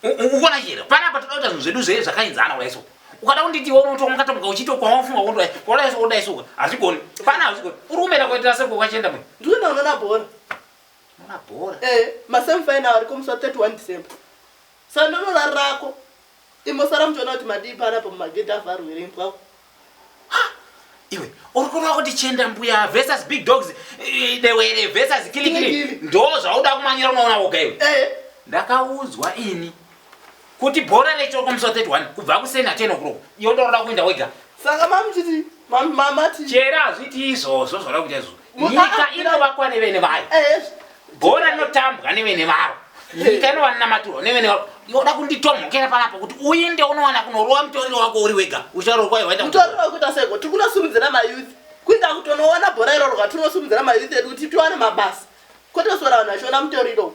ukuona chero panapa toda kuita zvinhu zvedu zvee zvakainzana kudai so ukada kunditi iwe unotonga ukatomuka uchiita kwawafunga kundwa kudai so kudai so hazvigoni pana hazvigoni uri kumera kuitira sei kwakwachenda mwe ndiwe ndaonana bhora ona bhora eh masemi final ariko musi wa 31 december sando norari rako imosara muchiona kuti madii panapa mumagedhi avharwere imbwa iwe uri kuona kuti chenda mbuya versus big dogs eh, dewere versus kilikili ndo zvauda kumanyira unoona woga iwe eh. ndakaudzwa ini kuti bhora rechokomswa 31 kubva kusena 10 o'clock iwe ndoda kuenda wega saka mamuchiti mamati chera hazviti izvozvo zvoda kuita izvozvo nyika inovakwa nevene vayo eh, bhora rinotambwa nevene varo eh. nyika inova namaturwa nevene varo yoda kunditomhokera panapo kuti uinde unowana kunorowa mutoriro wako uri wega ucharorwa iwaitamutoriro wekuita seko tiri kunosumudzira mayouth kuita kuti unoona bhora irorwa tiri kunosumudzira mayouth edu kuti tiwane mabasa kwete kusora vanhu vachiona mutoriro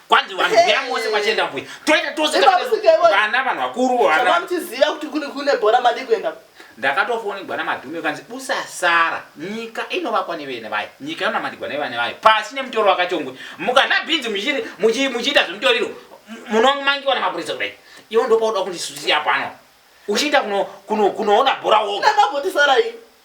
kwanzi vanhu huya mose kwachienda mbuya toenda tose vana vanhu vakuru vana muchiziva kuti kune kune bhora madi kuenda ndakatofonigwa namadhume ukanzi usasara nyika inovakwa nevene vayo nyika inonamandigwa nevane vayo pasi nemutoro wakachongwe mukana bhinzi muchiita zvemutoriro munomangiwa namapurisa kudai iwo ndopauda kundisusiya pano uchiita kunoona bhora woga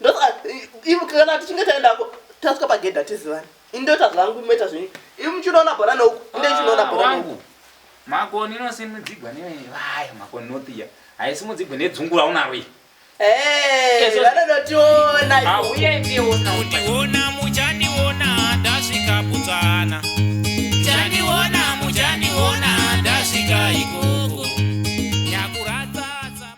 Ndoka ivo kana tichinge taendako tasvika pagedhi hatizivani. Ini ndoita zvangu moita zvenyu. Ivi muchinoona bhora neuku. Inde muchinoona bhora neuku. Wangu. Makoni inosimudzigwa nevayo makoni nothiya. Haisimudzigwe nedzungura unaro iyi. Eh, Yes, yes. vanonotiona. Hauye ndiona. Kundiona muchandiona ndasvika Botswana. Chandiona muchandiona ndasvika ikoko. Nyakuratsa tsama.